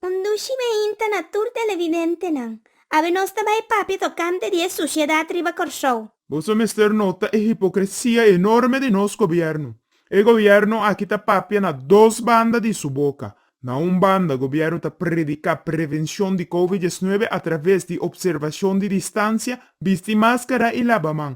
Un dushi mainta na tur televidentenan, awe nos ta bai papia tokante di e susiedat riba Kòrsou. Boso mester nota e hipokresia enorme di nos gobièrnu. E gobièrnu aki ta papia na dos banda di su boka. Na un banda, gobièrnu ta prediká prevenshon di Covid diesnuebe atraves di opservashon di distansia, bisti máskara i laba man.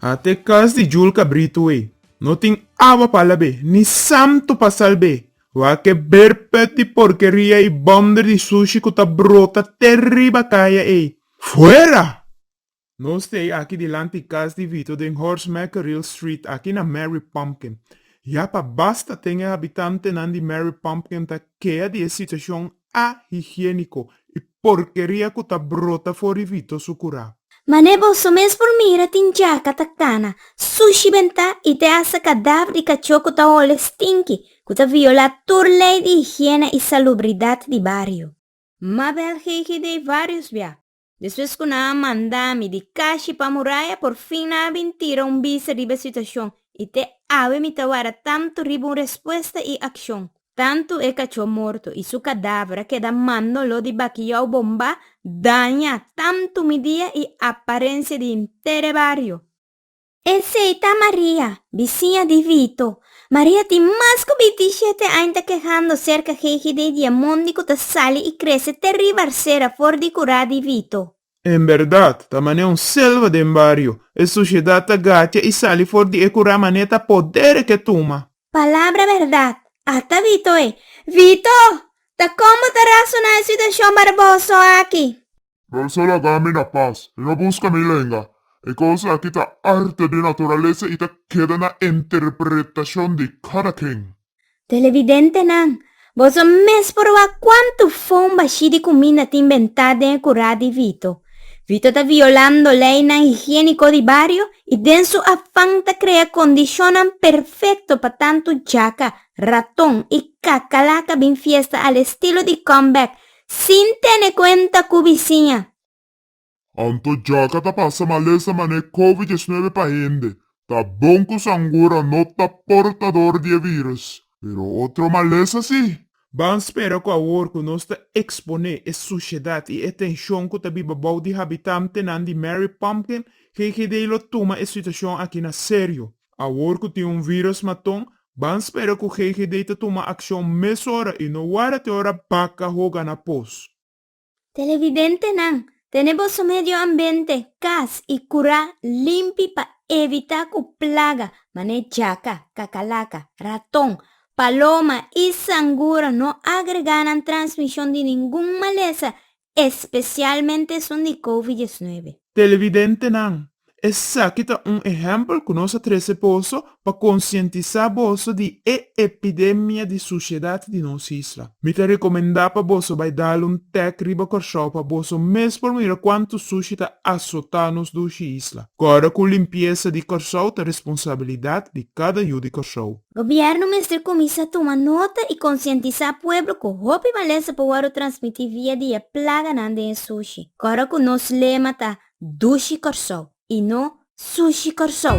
A te kas di jul kabritu ei, no tin awa pa lab'é, ni santu pa salb'é. Wak-e berpet di porkeria i bòmder di sushi ku ta brota te riba kaya ei. Fuera! No stay aki dilanti kas di Vito den Horst Meckeril Street, aki na Mary Pumpkin. Ya pa basta, ten e habitantenan di Mary Pumpkin ta kea di e situashon ahigiéniko i porkeria ku ta brota for di Vito su kurá. Manera boso mes por mira tin djaka ta kana, sushi bentá i te hasta kadaver di kachó ku ta ole stinki, ku ta violá tur lei di higiene i salubridat di bario. Mabel Gigi Dei Varios bia. Despues ku nan a manda mi di kashi pa muraya, porfin nan a bin tira un bista riba e situashon, i te awe mi ta wara tantu riba un respuesta i akshon. Tantu e kachó morto i su kadaver a keda mando lo di bakiyou bombá daña tantu mi dia i aparensia di henter e bario. Esei ta Maria, bisiña di Vito. Maria tin mas ku bintisiete aña ta kehando serka GGD di e mondi ku ta sali i krese te riba arsera for di kurá di Vito. En bèrdat, ta manera un selva den bario. E sosiedat ta gacha i sali for di e kurá manera ta poder e ke tuma. Palabra bèrdat, ata Vito e. Vito! Ta kon bo ta rasoná e situashon barboso aki? Bo so laga mi na pas i no buska mi lenga. E kos aki ta arte di naturalesa i ta keda na interpretashon di kada ken. Televidentenan, boso mes por oa kuantu fon bashí di kuminda tin bentá den e kurá di Vito. Vito ta violando leinan higiéniko di bario i den su afan ta krea kondishonnan perfekto pa tantu jaka, raton i kakalaka bin fiesta al estilo di Comeback sin tene kuenta ku bisiña. Anto djòkka ta pasa malesa manera Covid diesnuebe pa hende. Ta bon ku Sangura no ta portador di e vírùs, pero otro malesa sí. Ban spera ku awor ku nos ta eksponé e sushedat i e tenshon ku ta biba bou di habitantenan di Mary Pumpkin, GGD lo tuma e situashon akí na serio. Awor cu tin un virus maton, ban spera cu GGD ta tuma accion mesora y no warda te ora baca hoga na pos. Televidentenan, tene boso medio ambiente, cas y cura limpi pa evita cu plaga mane jaca, cacalaca, raton, paloma y sangura no agrega nan transmision di ningun malesa Especialmente esun di covid diesnuebe. Televidentenan, esaki ta un ehempel cu nos a trece boso pa concientisa boso di e epidemia di suciedad di nos isla. Mi ta recomenda pa boso bay dal un tek riba Corsow pa boso mes por mira cuanto suci ta azota nos dushi isla. Corda cu limpiesa di Corsow ta responsabilidad di cada yu di Corsow. Gobierno mester kuminsá tuma nota i konsientisá pueblo ku hopi malesa por wòrdu transmití via di e plaganan den e sushi, kòrda ku nos lema ta Dushi Kòrsou i no Sushi Kòrsou.